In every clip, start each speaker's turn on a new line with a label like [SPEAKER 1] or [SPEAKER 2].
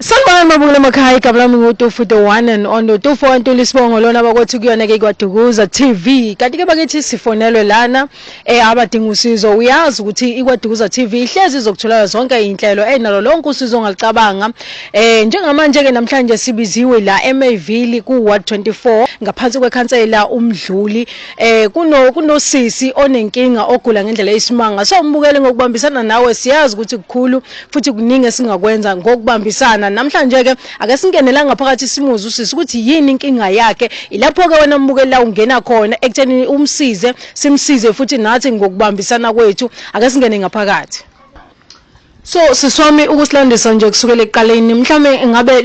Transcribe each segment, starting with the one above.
[SPEAKER 1] Sanibona mabukela emakhaya igama lami nguTufu the one and only Tufu wantula isibongo lona bakothi kuyona ke kwadukuza TV kanti ke bakithi sifonelwe lana eh abadinga usizo uyazi ukuthi ikwadukuza TV ihlezi izokutholela zonke inhlelo enalo lonke usizo ongalicabanga eh njengamanje ke namhlanje sibiziwe la eMayville ku Ward 24 ngaphansi kwekhansela umdluli eh kuno kunosisi onenkinga ogula ngendlela eyisimanga so umbukele ngokubambisana nawe siyazi ukuthi kukhulu futhi kuningi esingakwenza ngokubambisana namhlanje ke ake singenela ngaphakathi simuze usisi ukuthi yini inkinga yakhe ilapho ke wena mbukeli la ungena khona ekutheni umsize simsize futhi nathi ngokubambisana kwethu ake singene ngaphakathi So siswami ukusilandisa nje kusukela ekuqaleni mhlawumbe ngabe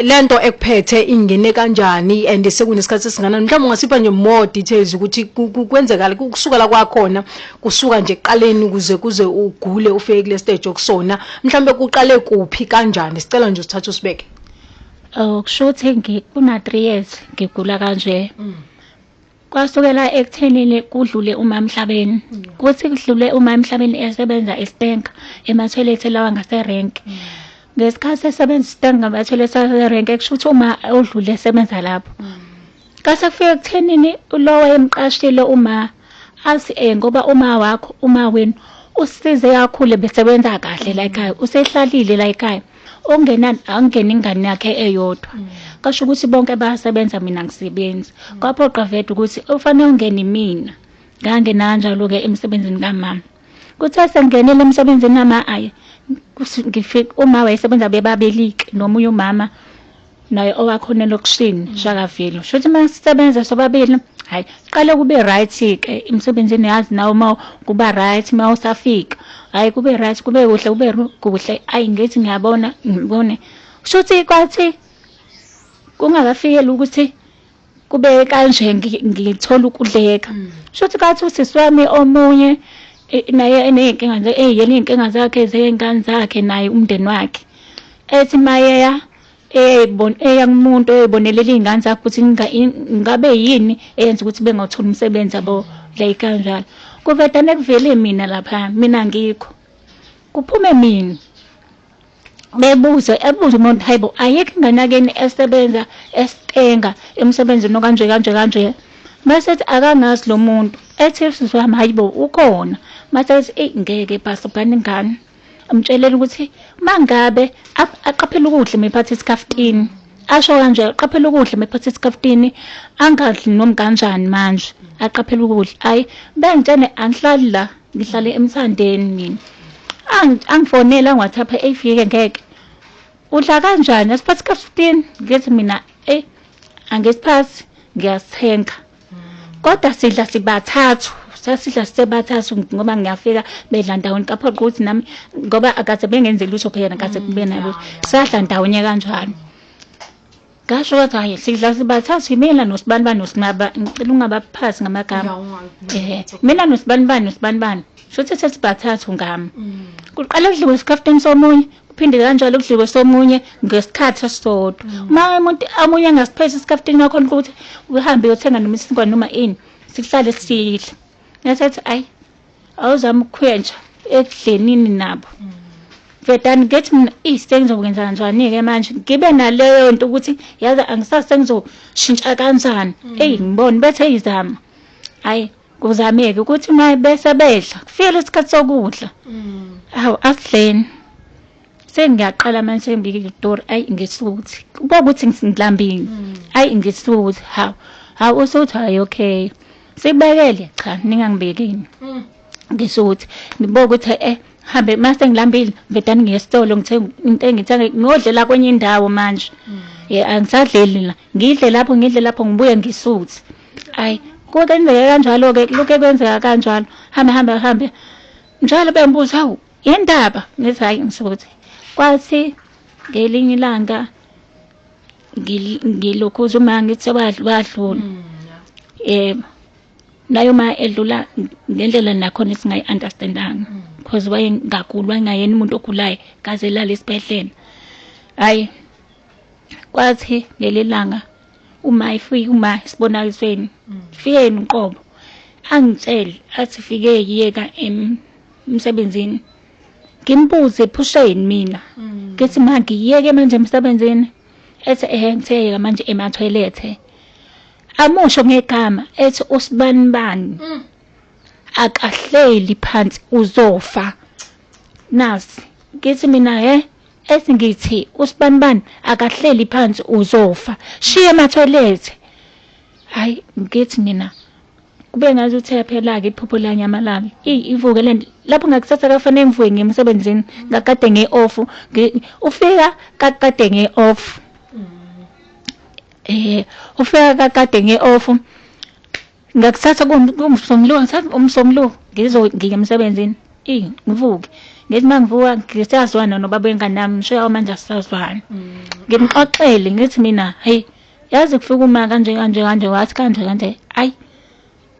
[SPEAKER 1] lento ekuphethe ingene kanjani and sekunesikhathi esinganani mhlawumbe ungasipha nje more details ukuthi kwenzekala kusukela kwakhona kusuka nje ekuqaleni ukuze kuze ugule ufike kule stage okusona mhlawumbe kuqale kuphi kanjani sicela nje usithathe usibeke oh kusho
[SPEAKER 2] ukuthi ngikuna 3 years ngigula kanje mm. kwasukela ekuthenini kudlule uma emhlabeni mm. kuthi kudlule uma emhlabeni esebenza eStank emathoyilethi lawa ngaserank mm. ngesikhathi esebenza iStank ngamathoyilethi aserank kusho ukuthi uma odlule esebenza lapho Kasafika kuthenini lo wayemqashile uma azi eh ngoba uma wakho uma wenu usize kakhulu besebenza kahle la ekhaya usehlalile la ekhaya ongenani angena ingane yakhe eyodwa mm. kasho ukuthi bonke bayasebenza mina ngisebenzi mm. kwaphoqa vede ukuthi ufanele ungene mina ngangena kanjalo-ke emsebenzini kamama kuthe sengingenile emsebenzini kamama ayi ngifike uma wayesebenza bebabelike nomunye umama naye owakho unelokishini shakavile sho ukuthi uma sisebenza sobabili hayi qale kube right ke emsebenzini yazi nawe uma kuba right uma usafika hayi kube right kube kuhle kube ru- kuhle ayi ngithi ngiyabona ngibone shuthi kwathi kungakafikeli ukuthi kube kanje ngithola ukudleka mm. shuthi kathi usisi wami omunye naye eney'nkinga nje eyiyena iy'nkinga zakhe zey'ngane zakhe naye umndeni wakhe ethi mayeya eya kumuntu eyibonelela iy'ngane zakhe ukuthi ngabe yini eyenza ukuthi bengawutholi umsebenzi abo like kanjalo kuvedane kuvele mina lapha mina ngikho kuphume mina bebuze ebuze umuntu hayibo ayekho ingane yakini esebenza esitenga emsebenzini okanje kanje kanje mase ethi akangazi lo muntu ethi sisi wami hayibo ukhona mase ethi eyi ngeke bhasa bhani ingane amtshelela ukuthi mangabe aqaphela ukudla mephatha isikhaftini asho kanje aqaphela ukudla mephatha isikhaftini angadli noma kanjani manje aqaphela ukudla ayi bengitshene angihlali la ngihlale emthandeni mina angifonela ngiwathi apha eyifike ngeke udla kanjani asiphathi ka-fifteen ngithi mina eyi angisiphathi ngiyasithenga kodwa sidla sibathathu sasidla sisebathathu ngoba ngiyafika bedla ndawonye kaphoqa ukuthi nami ngoba akaze bengenze lutho phela nakaze kube nalutho sadla ndawonye kanjalo Ngasho kathi hayi sidla sibathathu imina nosibani bani nosinaba ngicela ungabaphasi ngamagama. Eh mina nosibani bani nosibani bani. Shothi sesibathathu ngami. Mm. Kuqala kudliwe isikhafteni somunye kuphinde kanjalo kudliwe somunye ngesikhathi esisodwa. Mm. Uma umuntu amunye angasiphethe isikhafteni wakho ukuthi uhambe uyothenga noma isinkwa noma ini sihlale sidla. Ngathi ayi awuzama ukukhwentsha ekudlenini nabo vedani ngithi mina eyi sengizokwenza njani-ke manje ngibe naleyo nto ukuthi yazi angisazi sengizoshintsha kanjani mm. eyi ngibone bethe izama hhayi kuzameke ukuthi uma bese bedla kufikele isikhathi sokudla mm. hawu asidleni sengiyaqala manje sengibika izitori ayi ngisuthi kuba ukuthi ngilambile mm. ayi ngisuthi hawu hawu usuthi hayi okay sibekele cha ningangibekini mm. ngisuthi ngibuka ukuthi eh hambe mase ngilambile ngibedani ngiye esitolo ngithenga into engithenge ngodlela kwenye indawo manje mm. ye angisadleli la ngidle lapho ngidle lapho ngibuye ngisuthi ayi kodwa indlela kanjalo ke lokho kwenzeka kanjalo hambe hambe hambe njalo bembuza hawu Yendaba ngithi hayi ngisukuthi kwathi ngelinye ilanga ngilokhuza uma ngithi wadlula hmm, yebo naye uma edlula ngendlela nakhona esingayi-understandanga hmm. because wayengaguli wayengayena umuntu ogulayo kaze elala esibhedlela hhayi kwathi ngelelanga uma ifike uma isibonakalisweni hmm. fikeni uqobo angitshele athi fike yiyeka emsebenzini ngimbuze iphusha yini mina mm. ngithi ma ngiyeke manje emsebenzini ethi ehe ngiseyeka manje emathoyilethe amusho ngegama ethi usibani bani mm. akahleli phansi uzofa nasi ngithi mina he ethi ngithi usibani bani akahleli phansi uzofa shiye emathoyilethe hayi ngithi mina kube ngathi uthe yaphela-ke iphupho liyanyamalala eyi ivuke le nto lapho ngakusasa kafanele ngivuke ngiye emsebenzini ngakade nge-off ufika kakade nge-off um eh, ufika kakade nge-off ngakusasa kumsomluko umsomluko ngiye emsebenzini eyi ngivuke ngithi uma ngivuka ngisazwana nobaba wengane yami ngisho yawo manje asisazwana mm. ngimxoxele ngithi mina hhayi yazi kufika uma kanje kanje kanje wathi kanje kanje ayi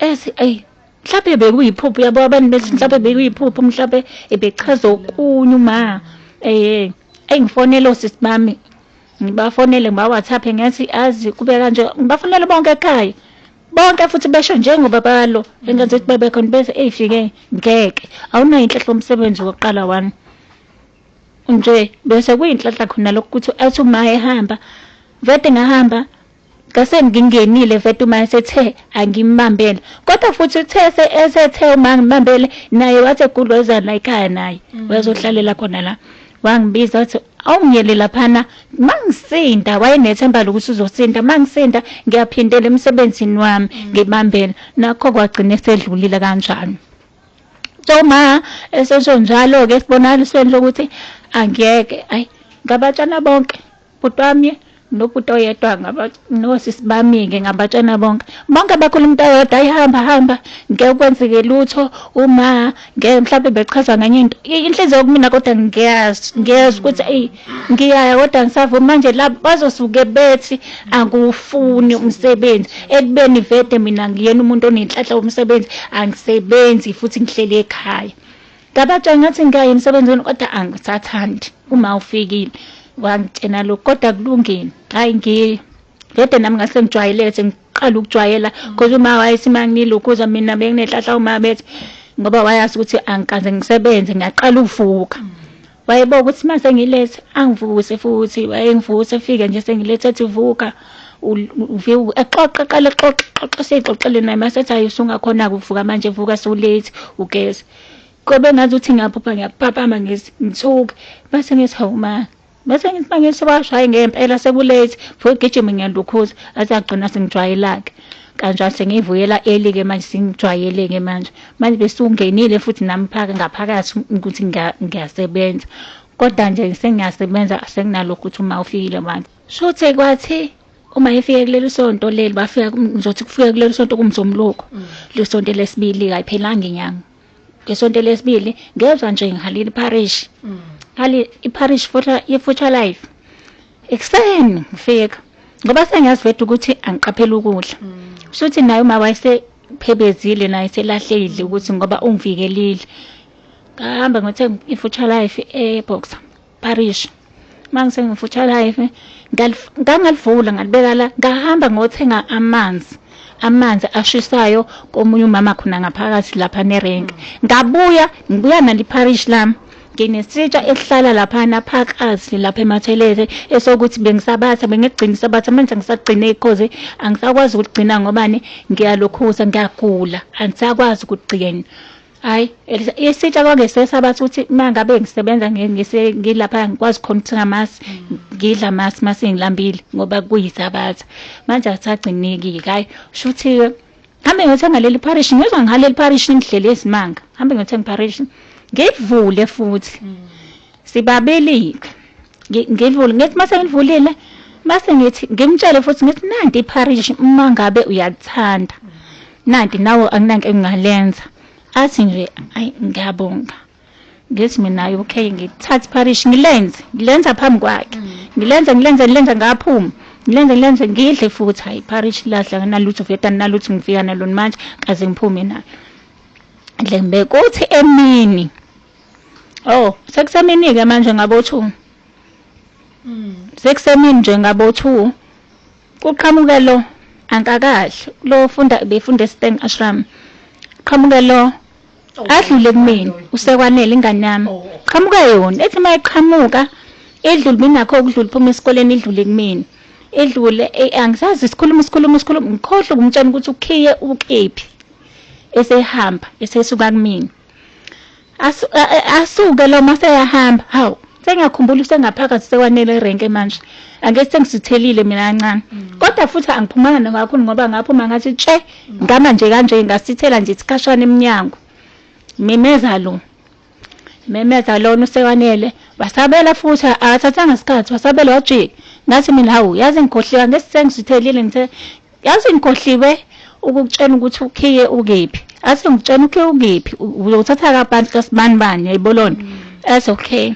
[SPEAKER 2] ethi ayi mhlawumbe bekuyiphupho yabo abantu bethi mhlawumbe bekuyiphupho mhlawumbe ebechaza okunye uma eh engifonela osisi bami ngibafonele ngibaWhatsApp ngathi azi kube kanje ngibafonele bonke ekhaya bonke futhi besho njengoba balo engathi ukuthi bebekhona bese eyifike ngeke awunayo inhlahla umsebenzi wokuqala wani nje bese kuyinhlanhla khona lokho ukuthi athi uma ehamba vete ngahamba ngase ngingenile vete uma esethe angimbambele kodwa futhi uthe esethe uma ngimbambele naye wathi egudlwezana ekhaya naye mm. wayezohlalela khona la wangibiza wathi awungiyele laphana mangisinda wayenethemba lokuthi uzosinda mangisinda ngiyaphindela emsebenzini wami mm. ngibambela nakho kwagcina esedlulile kanjalo Toma esesho njalo ke sibonalisweni lokuthi angeke ayi ngabatshana bonke bhuti wami nobhuti oyedwa nosisi bami-ke ngabatshana bonke bonke abakhuluma into eyodwa ayihamba hamba ngeke kwenzeke lutho uma ngeke mhlawumbe bechaza ngenye into inhliziyo kumina kodwa ngiyazi ngiyazi ukuthi eyi ngiyaya kodwa ngisavuma manje la bazosuke bethi angufuni umsebenzi ekubeni vede mina ngiyena umuntu onenhlanhla womsebenzi angisebenzi futhi ngihleli ekhaya ngabatshela ngathi ngiyaye emsebenzini kodwa angisathandi uma ufikile wangitshena lokhu kodwa kulungile hhayi ngiye vede nami ngase ngijwayelele sengiqala ukujwayela because uma wayesimangilokhuza mina benginenhlahla uma bethi ngoba wayazi ukuthi angikaze ngisebenze ngiyaqala ukuvuka Wayebona ukuthi uma sengilethe angivuse futhi wayengivuse efike nje sengilethe ethi vuka exoxe qale exoxe xoxe seyixoxele naye masethi ayi usungakhona-ke ukuvuka manje vuka sewulate ugeze kobe ngathi uthi ngiyaphupha ngiyaphaphama ngithuke mase ngithi hawu ma mase ngithi uma ngithi washo hhayi ngempela sekulate futhi gijima ngiyalukhuza athi agcina sengijwayelake kanjalo sengivuyela early ke manje sengijwayele ke manje manje besungenile futhi nami phaka ngaphakathi ukuthi ngiya- ngiyasebenza kodwa nje sengiyasebenza senginalokhu ukuthi uma ufikile manje shuthe kwathi uma efike kuleli sonto leli bafika kum- ngizothi kufika kuleli sonto kumzomloko le sonto lesibili kayiphelanga inyanga ngesonto lesibili ngezwa nje ngihalile iparish mm. hali iparish futhi ifuture life ekuseni ngifika ngoba sengiyazi veda ukuthi angiqaphela ukudla mm. shuthi naye uma wayesephebezile naye selahleyidle ukuthi ngoba ungivikelile ngahamba ngithe ifuture life eboxer parish mangisengifutsha live ngangalivula ngalibeka la ngahamba ngothenga amanzi amanzi ashisayo komunye umama khona ngaphakathi lapha nerenke ngabuya ngibuya naliparish lami nginesitsha esihlala laphana phakathi lapha emathelete esokuthi bengisabatha bengigcina isabatha manje ngisagcine ikhozi angisakwazi ukugcina ngobani ngiyalokhuza ngiyagula angisakwazi ukugcina Hayi, Elisa, isitsha kwake sesabathi ukuthi uma ngabe ngisebenza ngi- ngise- ngilapha ngikwazi khona ukuthi ngamasi ngidla amasi uma sengilambile ngoba kuyisabatha. Manje akusagcineki-ke hhayi. Shuthi-ke hambe ngiyothenga leli parish, ngizwa ngihala leli parish ngidlele izimanga. Hambe ngiyothenga iparish. Ngivule futhi. Sibabelile. Ngi- Ngivule ngithi mase ngivulile mase ngithi ngimtshele futhi ngithi nanti iparish uma ngabe uyakuthanda. Nanti nawe anginanke engingalenza. Athi nje ayi ngiyabonga. Ngithi mina ayi okay ngithatha iparish ngilenze ngilenza phambi kwakhe. Ngilenze ngilenze ngilenze ngaphuma. Ngilenze ngilenze ngidle futhi hayi iparish lahla nginalutho veta nginalutho ngifika nalo manje kaze ngiphume nalo. Dlembe kuthi emini Oh, sekusemini ke manje ngabo 2. Mm. Sekusemini nje ngabo 2. Kuqhamuke lo ankakahle. Lo funda befunda eSteng Ashram. Qhamuke lo oh, adlule kumina usekwanele ingane yami. Oh, oh. Qhamuke yona ethi mayiqhamuka edlule mina nakho ukudlula phuma esikoleni idlule kumina. edlule eh, angisazi sikhuluma sikhuluma sikhuluma ngikhohle ukumtshela ukuthi ukhiye ukephi esehamba esesuka kumina asuke lo maseyahamba hawu sengiyakhumbula usengaphakathi sekwanele erenke manje ake sengisithelile mina kancane mm. kodwa futhi angiphumanga nakakhulu ngoba ngaphuma ngathi tshe mm. ngama nje kanje ngasithela nje isikhashana emnyango mimeza lo memeza lona usekwanele wasabela futhi akathathanga isikhathi wasabela wajika ngathi mina hawu yazi ngikhohleka ngesisengizithelile ngithe Yazi ngikhohliwe ukukutshena ukuthi ukhiye ukephi. Ase ngikutshena ukhiye ukephi. Uyothatha kabantu kasibani bani yayibolona. Mm. Ase okay.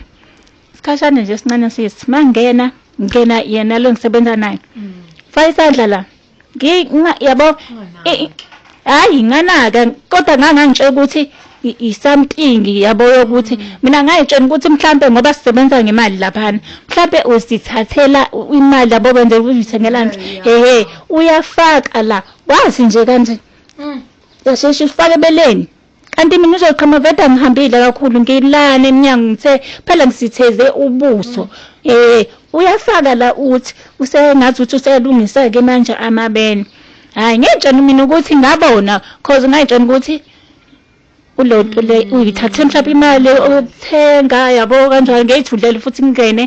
[SPEAKER 2] Sikhashana nje sincane sisi. Mangena ngena yena lo ngisebenza naye. Mm. Fayisandla la. Ngi yabo hayi nganaka kodwa ngangangitshela ukuthi i-something yabo yokuthi mm. mina ngayitshela ukuthi mhlampe ngoba sisebenza ngemali laphana mhlampe usithathela imali yabo benze uzithengela nje hehe uyafaka la wazi nje kanje mm. yasheshe ufake beleni Kanti mina uzoqhama vede angihambile kakhulu ngilana emnyango ngithe phela ngisitheze ubuso. Eh uyafaka la uthi usengathi uthi useyalungisa ke manje amabene. Hayi ngiyajana mina ukuthi ngabona cause ngayijana ukuthi kulento le uyithathe mhlawumbe imali okuthenga yabo kanjalo ngeyithulele futhi ngingene.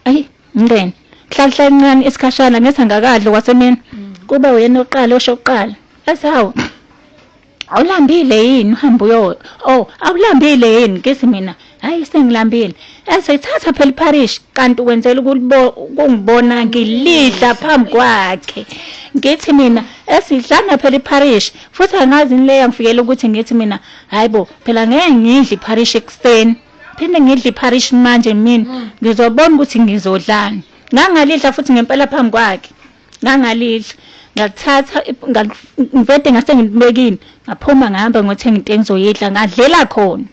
[SPEAKER 2] Ayi ngingene. Hlala hlala incane isikhashana ngethangakadlo kwasemini. Mm. Kuba uyena oqala osho oqala. Asawu. Awulambile yini uhamba uyo oh awulambile yini kisi mina hayi sengilambile esayithatha phela iparish kanti wenzela ukungibona ngilidla phambi kwakhe ngithi mina esidlana phela iparish futhi angazi ni leya ngifikela ukuthi ngithi mina hayibo phela ngeke ngidle iparish ekuseni phinde ngidle iparish manje mina ngizobona ukuthi ngizodlani ngangalidla futhi ngempela phambi kwakhe ngangalidla ngakuthatha ngivede ngase ngilibekile ngaphuma ngihamba ngothenga into engizoyidla ngadlela khona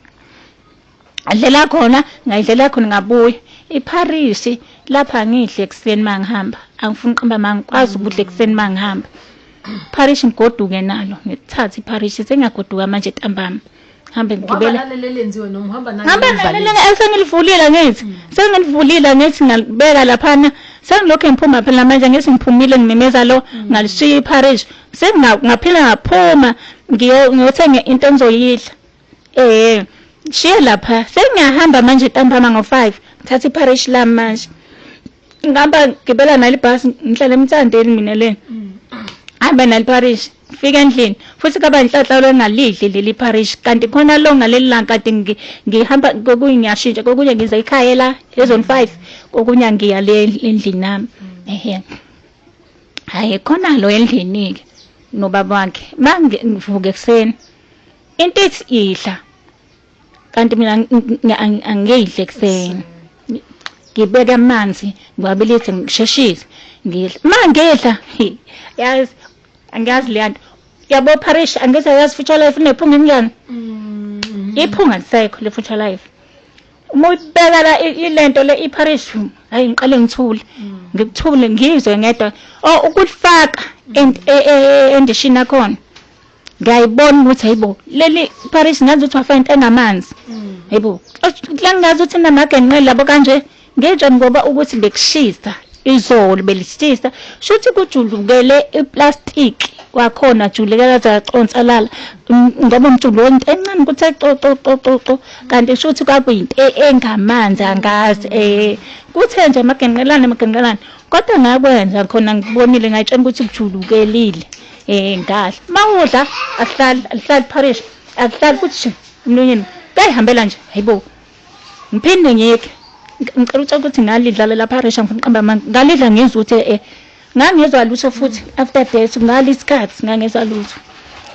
[SPEAKER 2] ngadlela khona ngayidlela khona ngabuya ipharisi lapha angidle ekuseni uma ngihamba angifuni uqamba ma ngikwazi ukudla ekuseni uma ngihamba pharishi ngigoduke nalo ngithathe ipharishi sengiyagoduka manje ntambama hambe ngigibele
[SPEAKER 1] hambe nalelele
[SPEAKER 2] esengilivulile ngithi mm. sengilivulile ngithi ngalibeka laphana sengilokhu ngiphuma phela manje ngithi ngiphumile ngimemeza lo mm. ngalishiya iparish sengingaphila ngaphuma ngiyothenga into engizoyidla eh shiye lapha sengiyahamba manje ntambama ngo-five ngithatha iparish lami manje ngihamba ngibela nalo ibhasi ngihlala emthandeni mina le hamba nalo parish fika endlini futhi kaba inhlanhla lwengalidli leli parish kanti khona lo ngaleli langa kanti ngi- ngihamba kokunye ngiyashintsha kokunye ngiza ekhaya la ezone five kokunye ngiya le endlini nami ehe hayi khona lo endlini-ke nobaba wakhe mangivuka ekuseni into ethi idla kanti mina angiyidle kuseni ngibeke amanzi ngiwabilise ngisheshise ngidla ma ngidla yazi angiyazi leya nto yabo parish angithi ayazi future life unephunga emnyana mm. iphunga lisekho le future life uma uyibeka la ilento le iparish hayi ngiqale ngithule mm. ngikuthule ngizwe ngedwa oh ukulifaka mm. e, e, e, endishini yakhona ngiyayibona ukuthi hayibo leli parish ngazi ukuthi wafa into engamanzi mm. hayibo la ngazi ukuthi namagenqeli labo kanje ngitsho ngoba ukuthi bekushisa izolo belishisa shuthi kujulukele iplastic kwakhona juleka kaze yaconsalala mm, ngoba umjulu wonke encane ukuthi ecococococo kanti shuthi kwakuyinto e, engamanzi angazi eh kuthe nje amagenqelane amagenqelane kodwa ngakwenza khona ngibonile ngayitshela ukuthi kujulukelile Eh ngal. Mawudla ahlali ahlali parish. Ahlali futhi mlonyeni. Kayihambela nje. Hayibo. Ngiphinde ngiyeke. Ngicela ucela ukuthi ngalidlala la parish ngifuna qamba manje. Ngalidla ngizwe ukuthi eh ngangizwa lutho futhi after that ngali isikhathi ngangizwa lutho.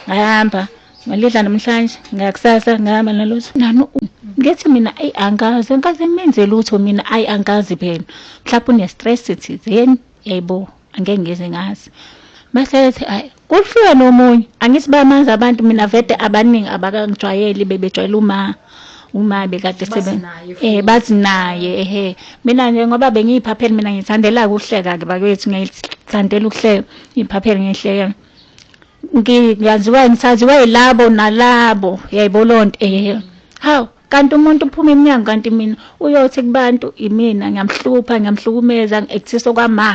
[SPEAKER 2] Ngahamba ngalidla namhlanje ngakusasa ngihamba nalutho. Nani ngithi mina ayi angazi angazi ngimenze lutho mina ayi angazi phela. Mhlawumbe une stress thizeni. Yayibo. angeke ngize ngazi bese ethi ayi kuhlulwe nomunye angithi bayamazi abantu mina vede abaningi abakangijwayeli bebejwayela uma uma bekade sebe eh bathi naye ehe mina nje ngoba bengiyiphapheli mina ngithandela ukuhleka ke bakwethu ngiyithandela ukuhleka iphapheli ngihleka ngiyaziwa ngithathiwe yilabo nalabo yayibona onto ehe hawu Kanti umuntu uphuma emnyango kanti mina uyothi kubantu imina ngiyamhlupha ngiyamhlukumeza ngi-actisa okwama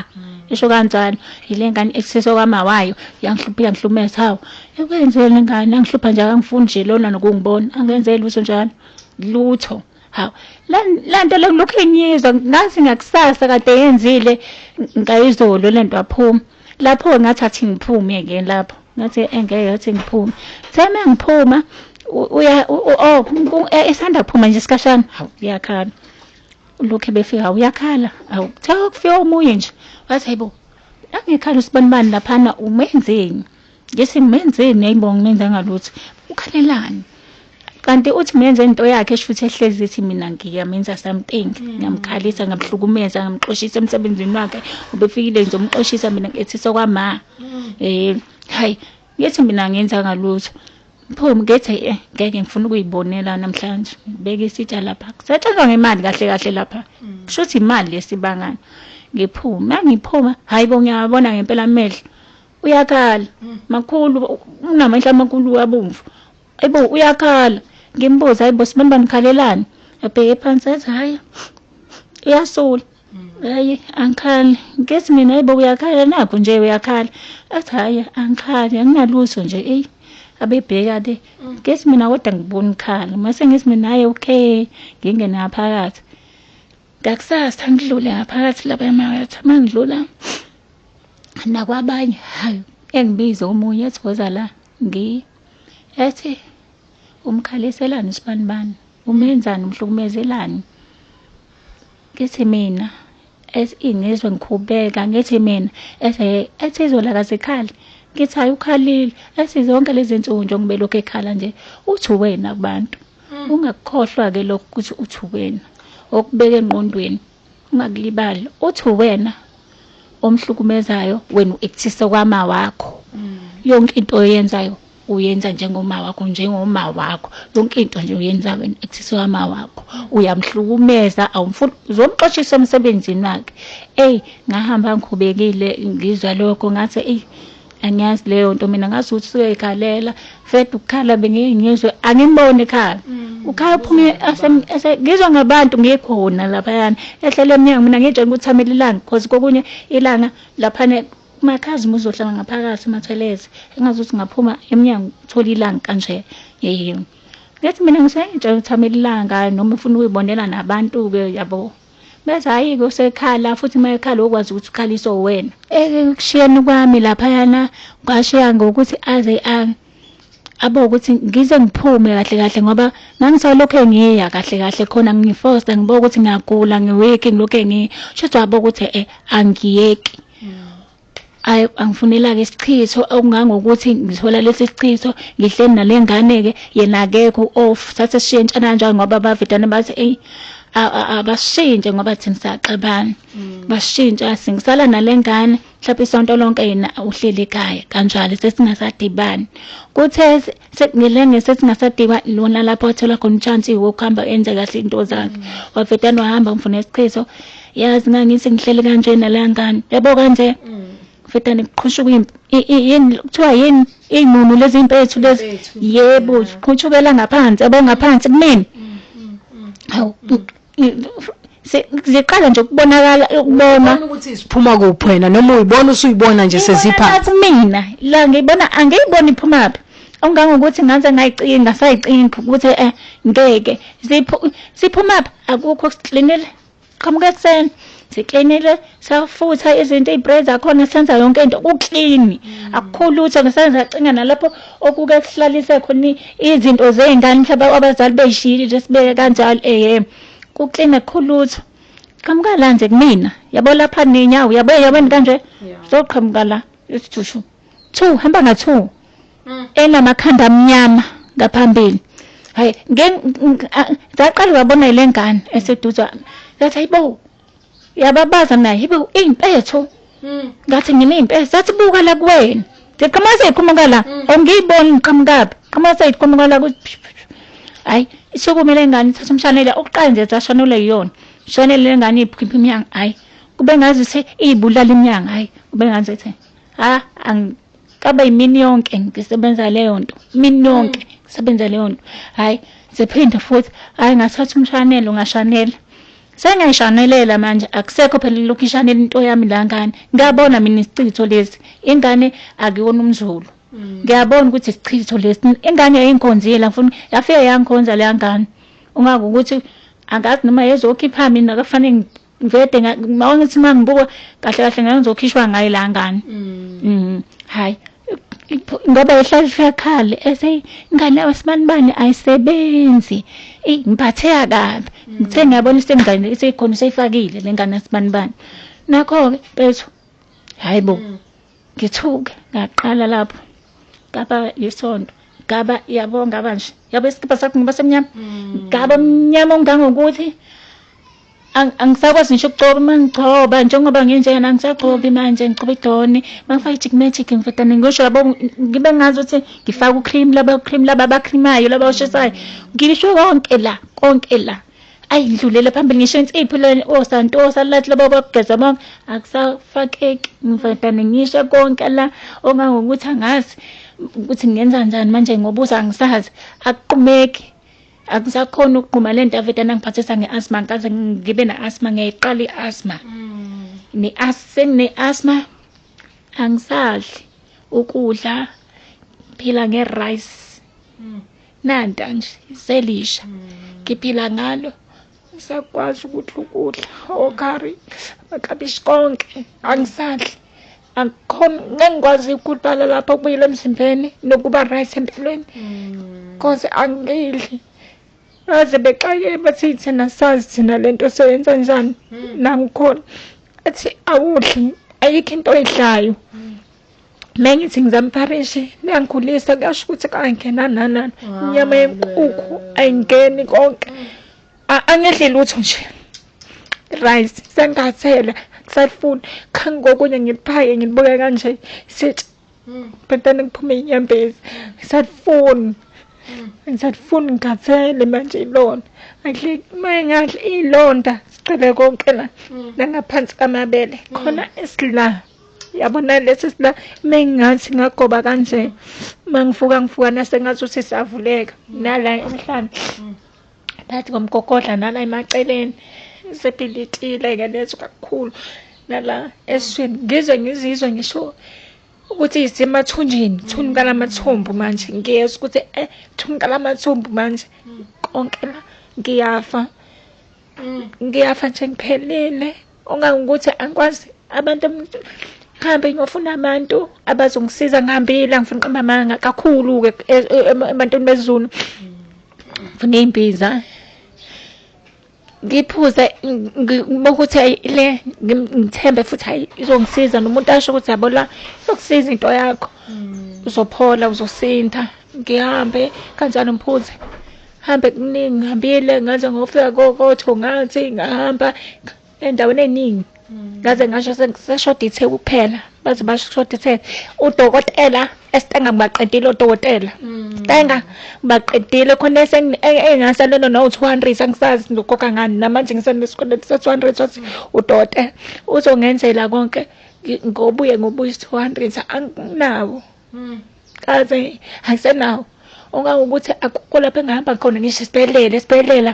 [SPEAKER 2] isho kanjalo yile ngane i-actisa okwama wayo yangihlupha iyangihlumeza hawu ekwenzeni le ngane angihlupha nje akangifuni nje lona nokungibona angenzeli lutho njalo lutho hawu le nto le ngilokhu engiyizwa ngathi ngakusasa kade yenzile ngayizolo le nto waphuma lapho-ke ngathi athi ngiphume-ke lapho ngathi engeke athi ngiphume seme ngiphuma uya oh e, esanda kuphuma nje isikashana hawu uyakhala lokhu befika hawu uyakhala hawu kuthiwa kufika omunye nje wathi hayibo angekhala usibanibani laphana umenzeni Ngithi ngimenzeni ayibo ngimenzanga lutho. Ukhalelani? Kanti uthi menze into yakhe esho ukuthi ehlezi ethi mina ngiyamenza something, mm. ngiyamkhalisa, ngamhlukumeza, ngamxoshisa emsebenzini wakhe. Ubefikile nje umxoshisa mina ngithi sokwama. Mm. Eh, hayi, ngithi mina ngenza ngalutho. Phumi ngithi eh ngeke ngifuna ukuyibonela namhlanje. Beke isitsha lapha. Setshelwa ngemali kahle kahle lapha. Mm. Kusho ukuthi imali lesibangana. Ngiphume, ngiphuma, hayibo ngiyabona ngempela amehlo. uyakhala makhulu unamehla amakhulu abomvu ayibo uyakhala ngimbuza ayibo sibamba nikhalelani abheke phansi athi hhayi uyasula hayi angikhali ngesi mina ayibo uyakhala nakho nje uyakhala athi hhayi angikhali anginalutho nje eyi abebheka le ngesi mina kodwa ngibona ukhala mase ngesi mina hhayi okay ngingene ngaphakathi ngakusasa ngidlule ngaphakathi lapha emakethe uma ngidlula nakwabanye hayi engibize omunye ethi woza la ngi ethi umkhaliselani usibanibani umenzani umhlukumezelani ngithi mina ethi ngizwe ngikhubeka ngithi mina ethi ethi izolo akazikhali ngithi hayi ukhalile ethi zonke lezi nsuku njengoba elokhu ekhala nje uthi wena kubantu Ungakukhohlwa ke lokhu ukuthi uthi uwena, okubeke engqondweni ungakulibali uthi uwena omhlukumezayo wena uektisa kwama wakho yonke into oyenzayo uyenza njengoma wakho njengoma wakho yonke into nje uyenza wena ektisa kwama wakho uyamhlukumeza awumfuni uzomxoshisa emsebenzini wakhe eyi ngahamba ngikhubekile ngizwa lokho ngathi eyi angiyazi leyo nto mina ngazi ukuthi suke ikhalela fed ukukhala bengeke ngizwe angimboni ekhala mm. ukhala uphume ngizwa ngabantu ngikhona laphayana ehlele emnyango mina ngitshela ukuthi thamela ilanga because kokunye ilanga laphana makhazi muzohlala ngaphakathi mathelezi engazi ukuthi ngaphuma emnyango thola ilanga kanje yeyini ngithi mina ngisengitshela ukuthi thamela ilanga noma ufuna ukuyibonela nabantu-ke yabo Bese hhayi-ke usekhala futhi uma ekhala okwazi ukuthi ukhaliswa uwena. Ekushiyeni kwami laphayana kwashiya ngokuthi aze abo ukuthi ngize ngiphume kahle kahle ngoba ngangisalokhe ngiya kahle kahle khona ngifosta ngiboka ukuthi ngiyagula ngiwiki ngilokhe ngiya. Shuthi wabo ukuthi eh angiyeki. ayi angifunelake isichitho okungangokuthi ngithola lesi sichitho ngihleli nale ngane-ke yena akekho off thathe sishintshana kanjani ngoba abavedane bathi eyi abashintshe ngoba thina siyaxabana mm. bashintsha singisala nale ngane mhlawumbe isonto lonke yena uhleli ekhaya kanjalo sesingasadibani kuthe ngelenge sesingasadiba lona lapho athola khona uchansi wokuhamba enze kahle into zakhe mm. wavedane wahamba ngifuna isichitho yazi ngangithi ngihleli kanje nala ngane yabo kanje mfetane kuqhushuka impi I- i- yini kuthiwa yini iy'nunu lezi mpethu lezi Impethu. yebo ziqhutshukela ngaphansi yabo ngaphansi kumina hawu i- se- ziqala nje ukubonakala ukubona Ubona ukuthi siphuma kuphi
[SPEAKER 1] wena noma uyibona usuyibona nje sezipha kumina la
[SPEAKER 2] ngiyibona angiyiboni iphumaphi ongangokuthi ngaze ngayicinga ngasayicinga ukuthi eh ngeke Ziphu- siphumaphi akukho siklinile qhamuka ekuseni siklinile safutha izinto iybread zakhona senza yonke into kuklini mm. akukho lutho ngisenza cinga nalapho okuke kuhlalise khona izinto zey'ngane mhlawumbe abazali beyishiyile nje sibeke kanjalo ehe kuklini akukho lutho qhamuka la nje kumina yabo lapha ninyawo yabo yabeni kanje zoqhamuka la isijushu two hamba nga-two mm. enamakhanda amnyama ngaphambili hayi ngaqala ngabona ile ngane eseduze wami ngathi hayibo yababaza mina hayibo iy'mpetho mm. ngathi ngine iy'mpetho zathi buka la kuwena ngiqhamuka seyiqhamuka la mm. awungiyiboni ngiqhamukaphi qhamuka seyiqhamuka la hayi isukumele ngane thatha umshanele okuqala nje zashanule yiyona mshanele lengane iphimba imyanga hayi kube ngazi ukuthi iyibulala imyanga hayi kube ngazi ukuthi ha angikaba yimini yonke ngisebenza leyo nto imini yonke mm. ngisebenza leyo nto hhayi ziphinde futhi hhayi ngathatha umshanelo ngashanela sengiyishanelela manje akusekho phela lokhu ishanela into yami la ngane ngiyabona mina isichitho lesi ingane akuyona umzulu mm. ngiyabona ukuthi isichitho lesi ingane yayingikhonzile ngifuna yafike yangikhonza leya ngane ungakukuthi angazi noma yezokhipha mina kafanele vede mawangithi uma ngibuka kahle kahle ngake ngizokhishwa ngayo la ngane mm. mm. hayi ngoba ehlala ihlakhala ese ingane yawo sibanibani ayisebenzi ey ngiphatheka kabi mm. ngithe ngiyabona isengane isikhona seyifakile lengane sibanibani nakho ke bethu hayibo mm. ngithuke ngaqala lapho kapa yisonto gaba yabonga banje yabo isikipa sakho ngoba semnyama mm. gaba mnyama ongangokuthi angisakwazi ngisho ukugcoba uma ngigcoba njengoba nginjena angisagcobi manje ngigcoba idoni uma ngifaka i-chick magic ngifetane ngisho labo ngibe ngazi ukuthi ngifaka u-cream laba u-cream laba abakhrimayo laba oshisayo ngisho konke la konke la ayi ngidlulele phambili ngisho insipho le osantosa oh, lathi laba bakugeza bonke akusafakeki ngifetane ngisho konke la ongangokuthi angazi ukuthi ngenza njani manje ngoba uze angisazi akuqumeki akusakhona ukugquma le nto aveda nangiphathisa nge-asma ngikaze ngibe ne-asma ngiyayiqala i-asma mm. sengine-asma angisadli ukudla phila nge-rice mm. nanta nje selisha mm. ngiphila ngalo ngisakwazi ukuthi ukudla okhari makabishi konke angisadli akukho ngengikwazi ukudala lapho kubuyile emzimbeni nokuba right empilweni mm. cause angidli baze bexakile bathi thina sazi thina le nto soyenza njani hmm. nangikhona athi awudli ayikho into oyidlayo hmm. mina ngithi ngizamfarishe niyangikhulisa kuyasho ukuthi kangena nanani inyama yenkukhu ayingeni konke hmm. angidli lutho nje rice sengathela kusafuna khangi kokunye ngiphake ngilibuke kanje sithi bantwana kuphume inyembezi ngisafuni ngisafuni ngikhathele manje ilona akudle uma engadla iy'londa sigcwele konke la nangaphansi kamabele khona esila yabona lesi sila mengathi ngagoba kanje mangifuka ngifuka nasengathi usisavuleka nala emhlane phakathi komgogodla nala emaceleni sebhilitile-ke lezo kakhulu nala eswini ngize ngizizwe ngisho ukuthi isemathunjini thunuka lamathumbu manje ngiyezwa ukuthi eh thunuka lamathumbu manje konke la ngiyafa mm. ngiyafa nje ngiphelile Ongangukuthi angikwazi abantu ngihambe ngiyofuna abantu abazongisiza ngihambile angifuni qamba amanga kakhulu-ke e- e- em- ebantwini bezulu ngifuna iy'mbiza ngiphuze ngi- ngi- ngibuke ukuthi ayi le ngim- ngithembe futhi hayi izongisiza nomuntu asho ukuthi yabo la izokusiza into yakho uzophola uzosinda ngihambe kanjani mphunzi hambe kuningi ngihambile ngaze ngofika kokotho ngathi ngahamba endaweni eningi mm. ngaze ngasho seshoda ithe kuphela baze bashoda ithe udokotela esitenga ngibaqedile odokotela mm. sitenga ngibaqedile khona engasalelo nawu-two hundred angisazi ngizokhokha ngani namanje ngisenesikweleti se-two hundred sothi mm. udokotela uzongenzela konke ngobuye ngobuye two hundred anginawo mm. kaze angisenawo ongangokuthi akukho lapho engihamba khona ngisho esibhedlela esibhedlela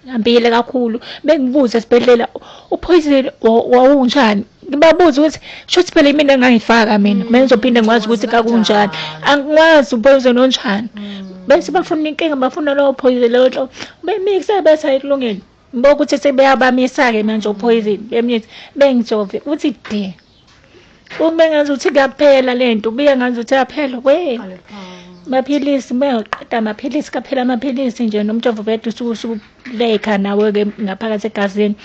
[SPEAKER 2] ngihambile kakhulu bengibuza esibhedlela uphoyizeni wawunjani ngibabuza ukuthi shuthi phela imina engangifaka mina mina mm. ngizophinde ngikwazi ukuthi kakunjani angikwazi uphoyizeni onjani mm. bese bafuna inkinga bafuna lowo phoyizeni lowo nto bemikise bese ayikulungele Bokuthi sebeyabamisa-ke manje ophoyizini bemnyithi bengijove uthi de ube ngazuthi kuyaphela le nto ubuye ngazuthi yaphela we maphilisi beyoqeda amaphilisi kaphela amaphilisi nje nomjovo bede usukuleyikha nawe-ke ngaphakathi egazini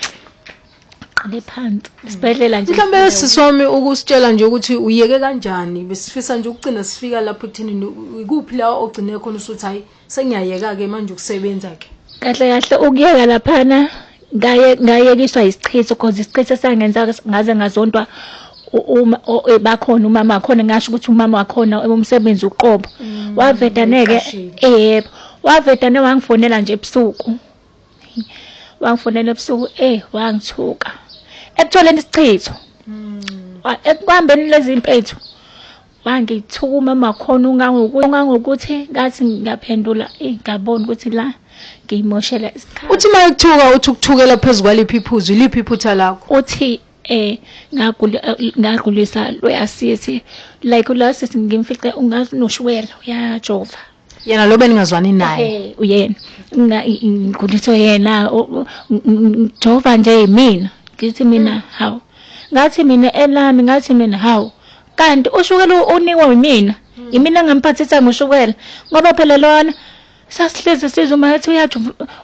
[SPEAKER 2] qale phansi isibhedlela nje mhlawumbe sisi wami
[SPEAKER 1] ukusitshela nje ukuthi uyeke kanjani besifisa nje ukugcina sifika lapho ekuthenini ikuphi la ogcine khona usuthi hhayi Sengiyayeka ke manje ukusebenza ke. Kahle kahle ukuyeka
[SPEAKER 2] laphana ngaye ngayekiswa isichitho because isichitho sangenza ngaze ngazontwa uma e, bakhona umama wakhona ngasho ukuthi umama wakhona umsebenzi uqobo mm, wavedaneke yebo wavedane wangifonela nje ebusuku wangifonela ebusuku eh wangithuka ekutholeni isichitho mm. ekuhambeni lezi mpethu Ngangithukuma makhona ungangokuthi ngathi ngiyaphendula ngabona ukuthi la ngiyimoshela isikhathi. Uthi uma ekuthuka uthi
[SPEAKER 1] ukuthukela phezu kwaliphi iphuzu, iliphi iphutha lakho? Uthi eh
[SPEAKER 2] ngagulisa loyasisi like ulasisi ngimfice ungazi noshukela uyajova. yena lo
[SPEAKER 1] beningazwani naye Eh, uyena mina
[SPEAKER 2] ngikhuliswe yena o- o- ng- ng- ngijova nje yimina ngithi mina hawu ngathi mina elami ngathi mina hawu kanti ushukela u- unikwa yimina yimina engamphathisa ngoshukela ngoba phela lona sasihlezi sizuma ngathi uyathi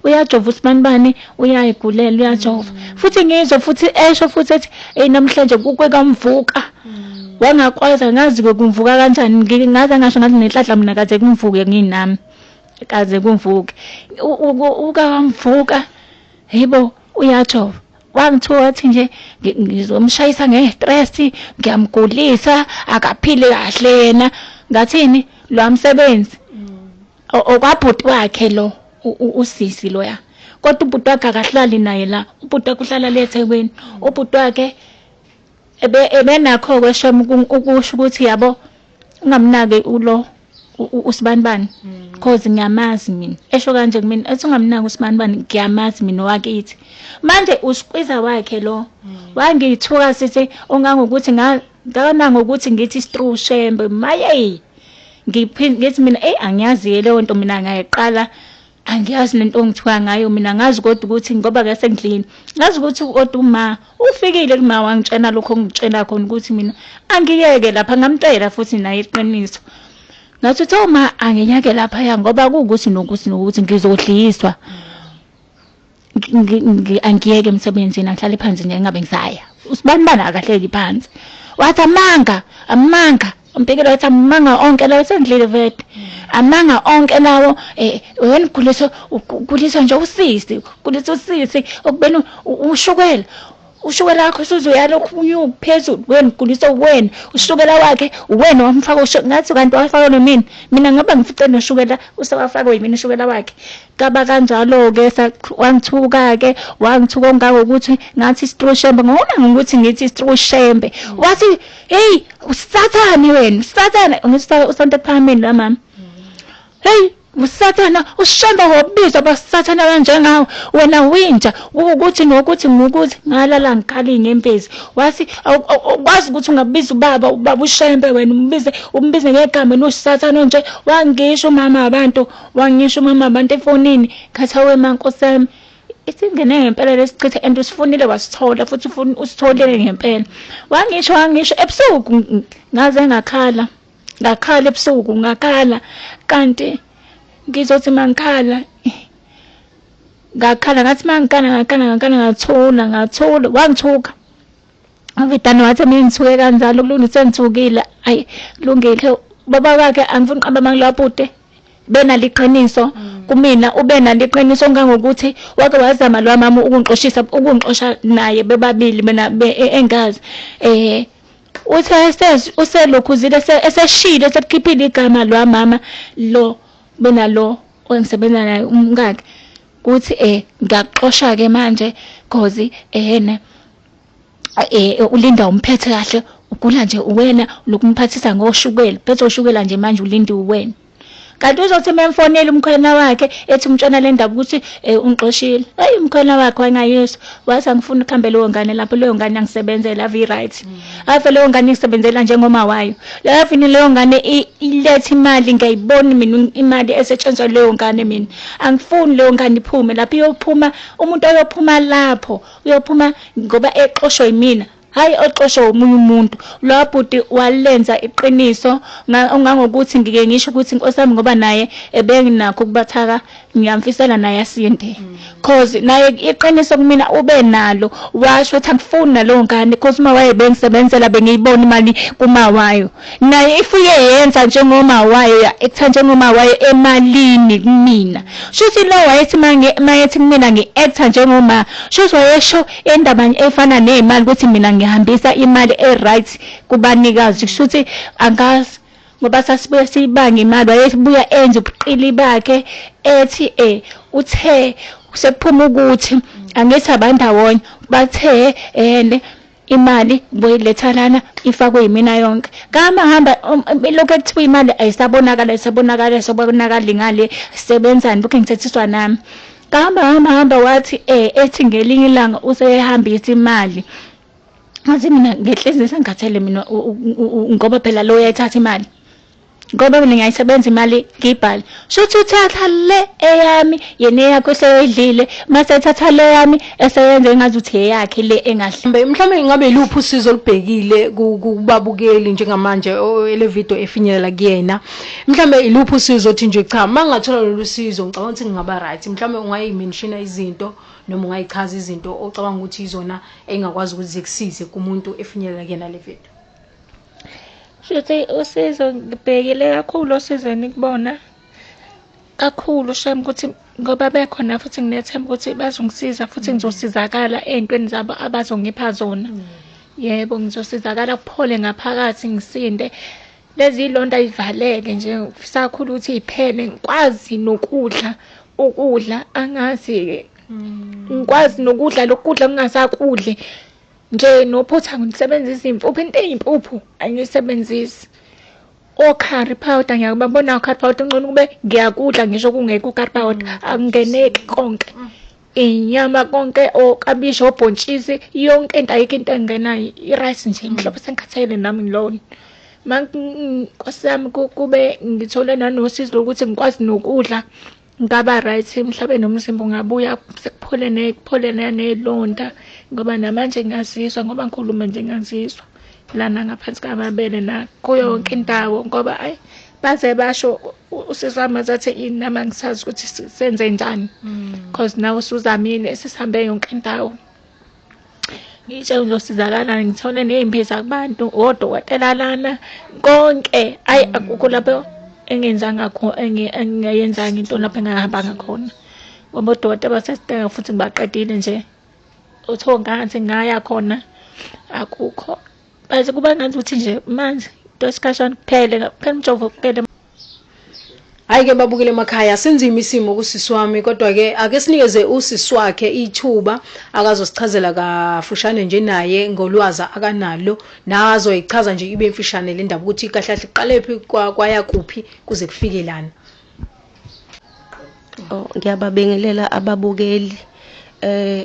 [SPEAKER 2] uyajova usibanibani uyayigulela uyajova mm. futhi ngizwe futhi esho futhi ethi eyi namhlanje kuke kamvuka mm. wangakwazi angazi kumvuka kanjani ngaze ngasho ngathi nenhlanhla mina kaze kumvuke nginami kaze kumvuke ukamvuka yibo uyajova wangithiwa wathi nje ngizomshayisa nge-stress ngiyamgulisa akaphile kahle yena ngathini lwa msebenzi okwabhuti wakhe lo usisi loya kodwa ubhuti wakhe akahlali naye la ubhuti wakhe uhlala le eThekwini ubhuti wakhe ebe ebenakho kweshem ukusho ukuthi yabo ungamnaki ulo usibanibani because hmm. ngiyamazi mina esho kanje kumina ethi ungamnaki usibanibani ngiyamazi mina wakithi manje usikwiza wakhe lo hmm. wangithuka sithi ongangokuthi Ngicabanga ngokuthi ngithi struu shembe mayeyi ngithi mina eyi angiyazi-ke leyo nto mina ngayiqala angiyazi nento ongithiwa ngayo mina ngazi kodwa ukuthi ngoba ke sengidlini ngazi ukuthi kodwa uma ufikile kuma wangitshena lokho ongitshena khona ukuthi mina angiyeke lapha ngamtshela futhi naye iqiniso ngathi uthe uma angiyeke laphaya ngoba kuwukuthi nokuthi nokuthi ngizodliswa angiyeke emsebenzini angihlale phansi nje ngabe ngisaya usibanibani akahleli phansi wathi amanga amanga umpikile wathi amanga onke lawo sendlile vete amanga onke lawo eh wena uguliswa uguliswa nje usisi uguliswa usisi okubeni ushukela ushukela wakho usuzoya lokhu ubuye uphezulu wena uguliswa uwena ushukela wakhe uwena wamfaka usho ngathi kanti wafaka nomina mina ngoba ngifice noshukela usewafakwe yimina ushukela wakhe kaba kanjalo-ke wangithuka-ke wangithuka ongangokuthi ngathi isitrushembe ngona ngokuthi ngithi isitrushembe wathi heyi usathane wena usathane ngithi usonto ephakameni la mama heyi Usathana ushemba wobizwa basathana kanjengawe wena winja ukuthi nokuthi ngokuthi ngalala ngikali ngempezi wathi kwazi ukuthi ungabiza ubaba ubaba ushembe wena umbize umbize ngegama losathana onje wangisho umama wabantu wangisho umama wabantu efonini khathawe mankosami isingene ngempela lesichitha and usifunile wasithola futhi ufuna usitholele ngempela wangisho wangisho ebusuku ngaze ngakhala ngakhala ebusuku ngakhala kanti ngizothi mangikhala ngakhala ngathi mangikhala ngakhala ngakhala ngathula ngathula wangithuka Mfitane wathi mina ngithuke kanjalo kulungise ngithukile ayi kulungile baba wakhe angifuni uqamba amangilwa bhuti bena liqiniso mm. kumina ube nalo iqiniso ngangokuthi wake wazama lo mama ukungixoshisa ukungixosha naye bebabili mina e, engazi eh Uthe uselokhuzile eseshilo esekukhiphile igama lwa mama lo bena lo engisebenza naye umkakhe uthi eh ngiyakuxosha ke manje cause ehene eh ulinda umphethe kahle ugula nje uwena lokumphathisa ngoshukela phethe ushukela nje manje ulinda uwena kanti uzothi uma emfonela umkhwena wakhe ethi umtshena le ndaba ukuthi um ungixoshile eyi umkhwena wakhe wangayiswa wathi angifuni ukuhambe leyo ngane lapho leyo ngane angisebenzela ave i-right ave leyo ngane isebenzela njengoma wayo lavini leyo ngane iletha imali ngiyayiboni mina imali esetshenzwa leyo ngane mina angifuni leyo ngane iphume lapho iyophuma umuntu oyophuma lapho uyophuma ngoba exoshwe yimina Hayi oxoshwa omunye umuntu. Lo bhuti walenza iqiniso ngangokuthi ngike ngisho ukuthi inkosi yami ngoba naye ebenginakho ukubathaka ngiyamfisela naye asinde. Mm. Cause naye iqiniso kumina ube nalo washo ukuthi angifuni nalowo ngane cause uma waye bengisebenzela bengiyibona imali kuma wayo. Naye ifuye yenza njengoma wayo ya ekutha njengoma wayo emalini kumina. Shuthi lo wayethi mangi mayethi kumina ngi actor njengoma shuthi wayesho Indaba nje efana nezimali ukuthi mina ngihambisa imali e-right kubanikazi kushuthi angazi ngoba sasibuye siyibanga imali wayebuya enze ubuqili bakhe ethi eh uthe sekuphuma ukuthi angithi abandawonye bathe ene imali boyiletha lana ifakwe yimina yonke kama hamba um, um, lokho ekuthiwa imali ayisabonakala isabonakala isabonakala ngale sebenzani lokho engithethiswa nami Bahamba hamba hamba wathi eh ethi ngelinye ilanga useyehambisa imali. Ngathi mina ngehlezi sengikhathele mina ngoba phela lo uyayithatha imali. ngoba mina ngiyayisebenza imali ngiyibhale shuthi uthatha le eyami yena eyakho eseyoyidlile mase ethatha le yami eseyenza engazi ukuthi eyakhe le engahle mhlawumbe ingabe iluphi
[SPEAKER 1] usizo olubhekile kubabukeli njengamanje ele video efinyelela kuyena mhlawumbe iluphi usizo othi nje cha uma ngingathola lolu sizo ngicabanga ukuthi ngingaba right mhlawumbe ungayimenshina izinto noma ungayichaza izinto ocabanga ukuthi izona engingakwazi ukuthi zikusize kumuntu efinyelela kuyena le video
[SPEAKER 3] shuthi usizo ngibhekile kakhulu osizweni kubona kakhulu shem ukuthi ngoba bekhona futhi nginethemba ukuthi bazongisiza futhi mm. ngizosizakala ey'ntweni zabo abazongipha zona mm. yebo ngizosizakala kuphole ngaphakathi ngisinde lezi londa ivaleke nje sakhula ukuthi iphele ngikwazi nokudla ukudla angazi ke mm. ngikwazi nokudla lokudla kungasakudle nje nophutha ngisebenzisa impuphu into eyimpuphu angiyisebenzisi okhari powder ngiyakubabona okhari powder ngcono kube ngiyakudla ngisho kungekho okhari powder mm. akungeneki konke mm. inyama konke okabishi oh, obhontshisi yonke into ayikho into engena i-rice nje mm. mhlawumbe sengikhathele nami ngilona ma nkosi yami kube ngithole nanosizi lokuthi ngikwazi nokudla ngaba right mhlawumbe nomzimba ungabuya sekuphole ne kuphole nanelonda ngoba namanje ngiyazizwa ngoba ngikhuluma nje ngiyazizwa lana ngaphansi kwamabele na kuyo yonke indawo ngoba ayi baze basho usisi wami azathi yini nami angisazi ukuthi senze njani because mm. nawe usuzamile sesihambe yonke indawo ngitshe uzosizakala ngithole ney'mbiza kubantu odokotela lana konke ayi mm. akukho lapho engenzanga engingayenzanga into lapho engahambanga khona ngoba odokotela basesidinga futhi ngibaqedile nje uthiwa ngathi ngaya khona akukho But kuba ngathi ukuthi nje manje into esikhashana kuphele kuphela umjovo kuphele
[SPEAKER 1] Hayi ke babukele emakhaya sinzima isimo kusisi wami kodwa ke ake sinikeze usisi wakhe ithuba akazosichazela kafushane nje naye ngolwaza akanalo nazoyichaza nje ibe imfishane le ndaba ukuthi kahle kahle iqalephi kwaya kuphi kuze kufike lana Oh,
[SPEAKER 4] ngiyababingelela ababukeli eh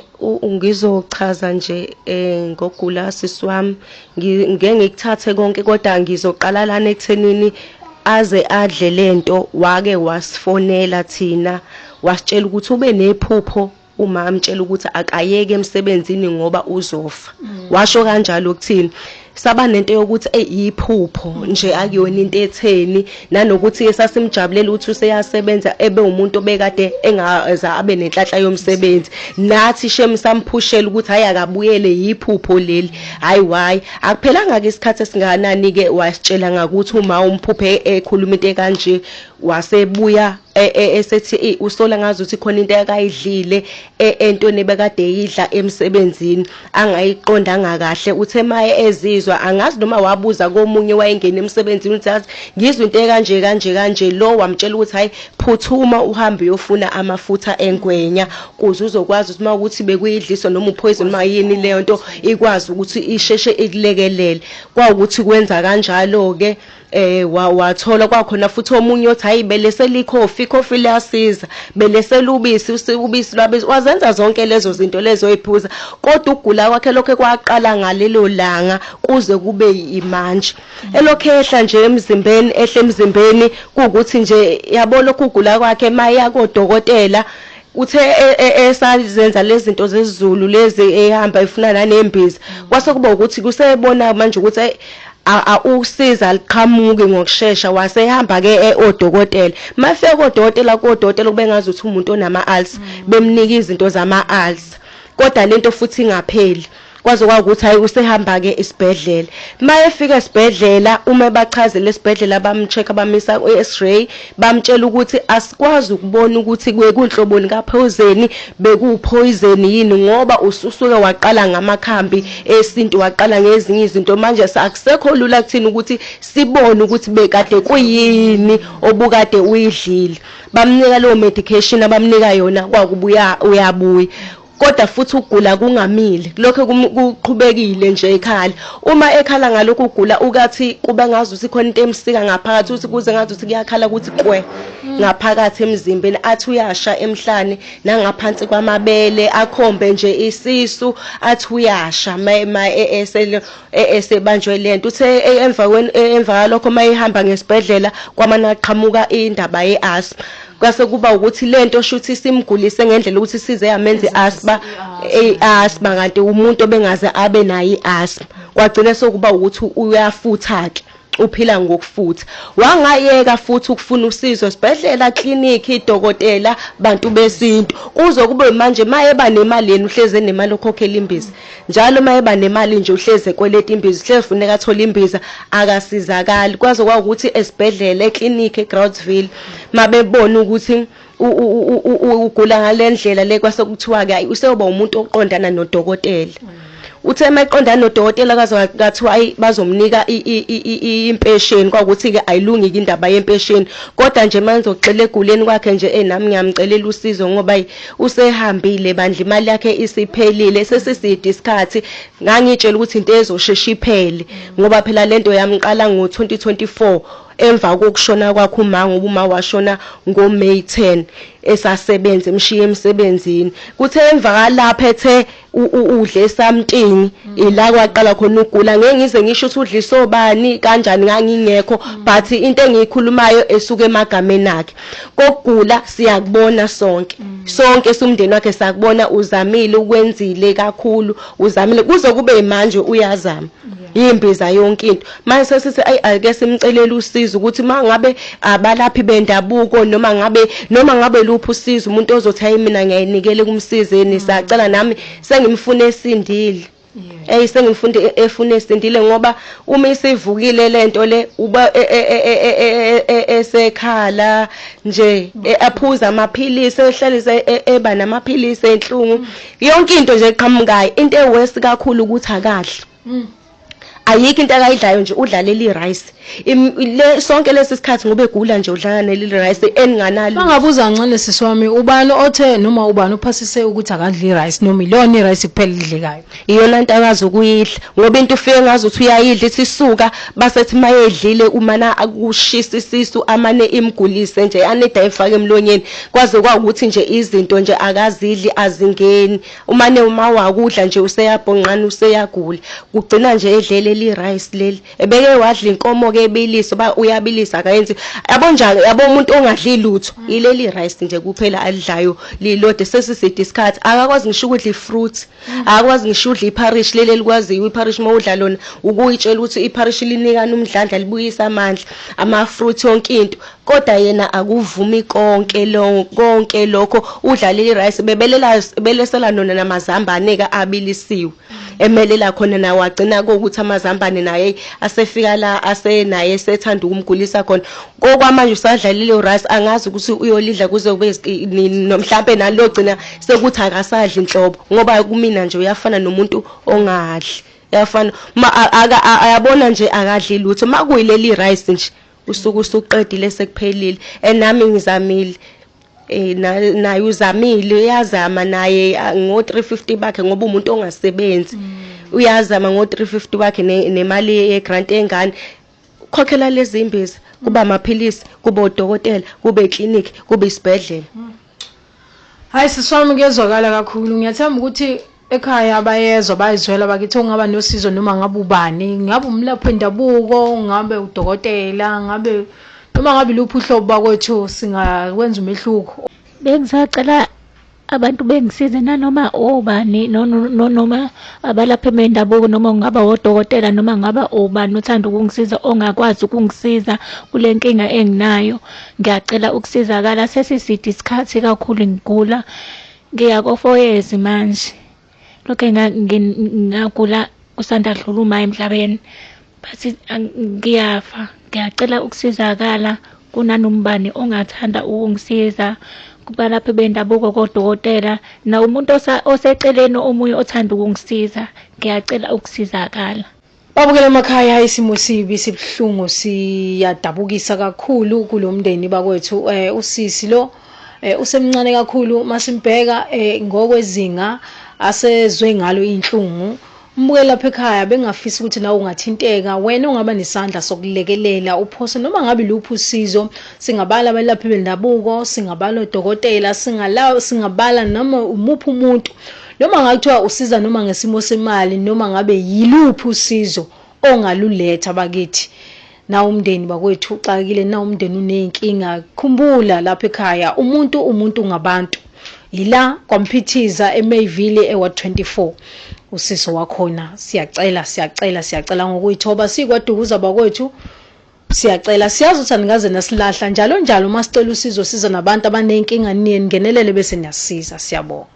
[SPEAKER 4] ngizochaza nje eh ngogula sisi wami ngike ngikuthathe konke kodwa ngizoqala lana ekuthenini aze adle lento wake wasifonela thina wasitshela ukuthi ube nephupho uma amtshela ukuthi akayeke emsebenzini ngoba uzofa mm. washo kanjalo ukuthini saba nento yokuthi eyiphupho mm. nje akuyona into etheni nanokuthi esasimjabulela ukuthi useyasebenza ebe umuntu obekade engaza abe nenhlanhla yomsebenzi nathi shem samphushela ukuthi hayi akabuyele yiphupho leli hayi why akuphelanga ke isikhathi esinganani ke wasitshela ngakuthi uma umphuphe ekhuluma into kanje wasebuya e, e, esethi e, usola ngazuthi khona into akayidlile e, entweni ebekade eyidla emsebenzini angayiqondanga kahle uthe maye ezizwa angazi noma wabuza komunye wayengena emsebenzini uthi yazi ngizwe into ekanje kanje kanje lo wamtshela ukuthi hayi phuthuma uhambe uyofuna amafutha engwenya kuze uzokwazi ukuthi mawukuthi bekuyidliso noma upoison mayini leyo nto ikwazi ukuthi isheshe ikulekelele kwawukuthi kwenza kanjalo ke eh wathola kwakhona futhi omunye othi hayi belese likhofi ikhofi liyasiza belese lubisi usibisi lwabisi wazenza zonke lezo zinto lezo oyiphuza kodwa ukugula kwakhe lokho kwaqala ngalelo langa kuze kube imanje elokhe ehla nje emzimbeni ehle emzimbeni kuukuthi nje yabo lokhu ukugula kwakhe maya kodokotela Uthe esazenza lezi zinto zezulu lezi ehamba efuna nanembiza mm. kwase kuba ukuthi kusebona manje ukuthi ayi usiza liqhamuki ngokushesha wasehamba ke e, odokotela mafika kodokotela kodokotela kubengazi ukuthi umuntu onama ulcer mm. bemnika izinto zama ulcer kodwa lento futhi ingapheli Kwaze kwakuthi hayi usehamba ke isibhedlela. Mayefika esibhedlela uma ebachazela esibhedlela bamcheck bamisa i-X-ray bamtshela ukuthi asikwazi ukubona ukuthi kwekunhloboni kaphozeni bekuwupoison yini ngoba ususuke waqala ngamakhambi esintu waqala ngezinye izinto manje akusekho lula kuthina ukuthi sibone ukuthi bekade kuyini obukade uyidlile. Bamnika leyo medication abamnika yona kwakubuya uyabuya. kodwa futhi ukugula kungamile kulokho kuqhubekile nje ekhala uma ekhala ngalokhu ukugula ukathi kuba ngazi ukuthi khona into emsika ngaphakathi ukuthi kuze ngazi ukuthi kuyakhala ukuthi kwe ngaphakathi emzimbeni athi uyasha emhlane nangaphansi kwamabele akhombe nje isisu athi uyasha esele esebanjwe lento uthe emva emva lokho mayihamba ngesibhedlela kwamana qhamuka indaba yeasthma kwase kuba ukuthi lento shuthi simgulise ngendlela ukuthi size yamenze asthma asthma kanti umuntu obengaze abe nayo iasthma kwagcina sokuba ukuthi uyafutha ke uphila ngokufutha wangayeka futhi ukufuna usizo sibhedlela clinic idokotela bantu besintu kuzo kube manje mayeba nemali yena uhleze nemali okhokhela imbiza njalo mayeba nemali nje uhleze kweleta imbiza uhleze funeka athola imbiza akasizakali kwaze kwawukuthi esibhedlela eclinic eGroudsville mabebona ukuthi ugula ngalendlela le kwase kuthiwa ke useyoba umuntu oqondana nodokotela uthe mayiqondana nodokotela kathiwa ayi bazomnika impesheni kwakuthi-ke ayilungike indaba yempesheni kodwa nje manje ngizogxila eguleni kwakhe nje eyi nami ngiyamcelela usizo ngoba yi usehambile bandla imali yakhe isiphelile sesiside isikhathi ngangiyitshela ukuthi into ezoshesha iphele ngoba phela le nto yamqala ngo-2024 Emva kokushona kwakhe uma ngoba uma washona ngoMay 10 esasebenza emshiya emsebenzini kuthe emva kalapha ethe udle something mm. ila kwaqala khona ugula ngeke ngize ngisho ukuthi udlisa obani kanjani ngangingekho mm. but into engiyikhulumayo esuka emagameni akhe kokugula siyakubona sonke mm. sonke sumndeni wakhe sakubona uzamile ukwenzile kakhulu uzamile kuze kube manje uyazama imbiza yonke into manje sesithi ayi ake simcelele usizo ukuthi mangabe abalaphi bendabuko noma ngabe noma ngabe luphi usizo umuntu ozothi ayi mina ngiyayinikele kumsizeni sacela nami sengimfune esindile eyi sengimfunde e, efune esindile ngoba uma isivukile lento le uba e, e, esekhala nje aphuza amaphilisi ehlalise eba namaphilisi enhlungu mm. yonke into nje eqhamukayo into ewesi kakhulu ukuthi akadli mm. ayikho into akayidlayo nje udla leli rice le sonke lesi sikhathi ngoba egula nje udlala leli rice eninganalo bangabuza ncane sisi
[SPEAKER 1] wami ubani othe noma ubani uphasise ukuthi akadli rice noma ilona rice kuphela idlekayo iyona into akazi
[SPEAKER 4] ukuyidla ngoba into ufike ngazi ukuthi uyayidla ithi suka basethi mayedlile umana akushisa isisu amane imgulise nje aneda efake emlonyeni kwaze kwawukuthi nje izinto nje akazidli azingeni umane uma wakudla nje useyabhonqana useyagula kugcina nje edlele li rice leli ebeke wadla inkomo ke ebilisa ba uyabilisa akayenzi yabo njalo yabo umuntu ongadli lutho mm. ileli rice nje kuphela alidlayo lilode sesiside isikhathi akakwazi ngisho ukudla ifruit mm. akakwazi ngisho udla iparish leli likwaziyo iparish uma udla lona ukuyitshela ukuthi iparish linikana umdlandla libuyisa amandla ama fruit yonke into Koda yena akuvumi konke lo konke lokho udlalile rice bebelela belesela nona namazambane ka abilisiwe emelela khona nawo agcina ukuthi amazambane naye asefika la asenaye sethanda ukumgulisa khona kokwamanje usadlalile rice angazi ukuthi uyolidla kuze kube mhlambe nalogcina sekuthi akasadli inhlobo ngoba kumina nje uyafana nomuntu ongadli yafana ma ayabona nje akadli lutho makuyileli rice nje usuku usuqedile sekuphelile and nami ngizamile eh naye uzamile uyazama naye ngo 350 bakhe ngoba umuntu ongasebenzi mm. uyazama ngo 350 bakhe nemali ye grant engane khokhela lezi imbiza kuba amaphilisi kube odokotela kube iclinic kube isibhedlela mm.
[SPEAKER 1] Hayi sisi wami kuyezwakala kakhulu ngiyathemba ukuthi ekhaya bayezwa bayizwela bakithi ongaba nosizo noma ngabe ubani ngabe umlaphi wendabuko ngabe udokotela ngabe noma ngabe luphi uhlobo bakwethu singakwenza umehluko bengisacela
[SPEAKER 2] abantu bengisize nanoma obani noma abalaphi bendabuko noma ungaba wodokotela noma ngaba ubani uthanda ukungisiza ongakwazi ukungisiza kule nkinga enginayo Ngiyacela ukusizakala sesiside isikhathi kakhulu ngigula. Ngiya kofoyezi manje. Lokhe ngagula kusanda dlula uma emhlabeni. Bathi ngiyafa. Ngiyacela ukusizakala kunanombani ongathanda ukungisiza kubalaphi bendabuko kodokotela nawo umuntu oseceleni omunye othanda ukungisiza. Ngiyacela ukusizakala. Babukela
[SPEAKER 1] emakhaya isimo sibi sibuhlungu siyadabukisa kakhulu kulomndeni bakwethu eh usisi lo eh usemncane kakhulu masimbheka eh ngokwezinga asezwe ngalo inhlungu umbukele lapha ekhaya bengafisa ukuthi nawe ungathinteka wena ungaba nesandla sokulekelela uphose noma ngabe luphi usizo singabala abalaphi bendabuko singabala odokotela singala singabala noma umuphi umuntu Noma ngabe kuthiwa usiza noma ngesimo semali noma ngabe yiluphi usizo ongaluletha bakithi. Nawu umndeni bakwethu uxakile, nawu umndeni uney'nkinga. Khumbula lapha ekhaya umuntu umuntu ngabantu. Yila kwaMphithiza eMayville eWard 24. Usiso wakhona siyacela siyacela siyacela ngokuyithoba sikwaDukuza bakwethu. Siyacela siyazi ukuthi anikaze nasilahla njalo njalo uma sicela usizo siza nabantu abanenkinga niye ningenelele bese niyasiza siyabonga.